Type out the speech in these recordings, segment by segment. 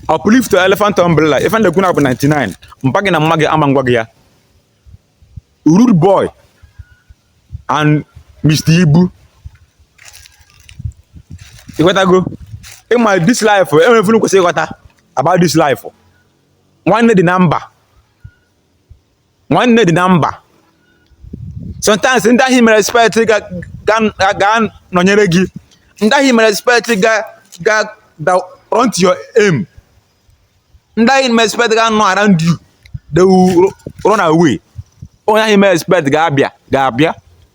uplift elefant umbrella ife m na-ekwu na-abụ 99 mpa gị na mma gị ama ngwa gị ya Rudeboy and Mr Ibu ịghọtago ịma this life enwere ife unu kwesịrị ịghọta about this life nwanne dị na mba nwanne dị na mba sometimes ndị ahụ ị mere expect ga-anọnyere gị ndị ahụ ị mere expect ga run to your aim ndị ahụ ị mere expect ga-anọ around you they will run away onye ahụ ị mere expect ga-abịa ga-abịa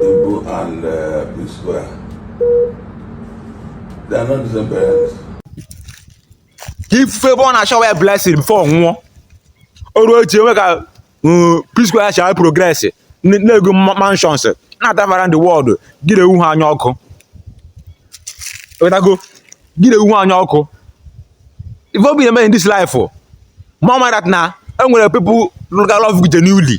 Ibu and uh, P Square. They are not the same parents. ka ị fụ ebe ọ na-ashower ya blessing before ọ nwụọ o ruo echi enwe ka mm, P Square si a-progress n- na-ego ma- mansions na-atravel around the world gị na-ewu ha anya ọkụ ịghọtago gị na-ewu ha anya ọkụ ife ọ bụ ị na-eme in this life mama that na enwere people lụga love genuinely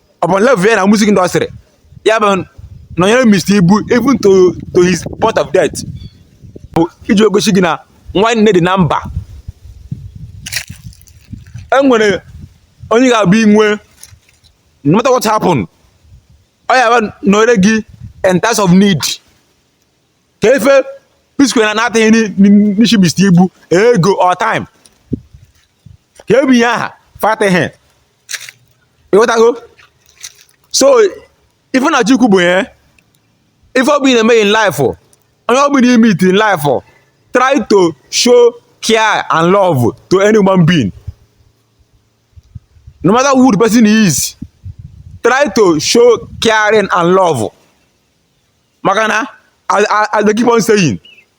upon level ya na music industry ya bịa nọnyere Mr. Ibu even to to his point of death bụ iji egosi gị na nwanne dị na mba enwere onye ga-abụ ị nwee no matter what happen ọ ya-abịa nọnyere gị in times of need kee ife P Square na na-ataghị n'isi Mr. Ibu ego or time kee ebe ha afụtaghị ịghọtago so ife m na-achọ ikwu bụ ya ife ọ bụ ị na-eme in life onye ọ bụ na ị meet in life try to show care and love to any human being no matter who the person is try to show caring and love maka na as i dey keep on saying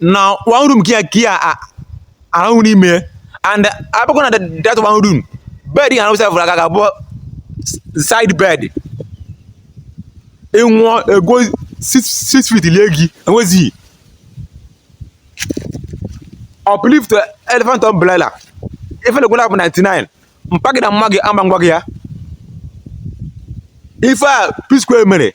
na one room ka ị ya-arahụ n'ime and a bịakwa na that one room bed ha na-awụsa fụrụ aka ga abụọ side bed ị nwụọ e gwuo 6 feet lie gị enwezighị uplift elephant umbrella ife m na-ekwu na-abụ 99 mpa gị na mma gị ama ngwa gị ya ife a P-Square mere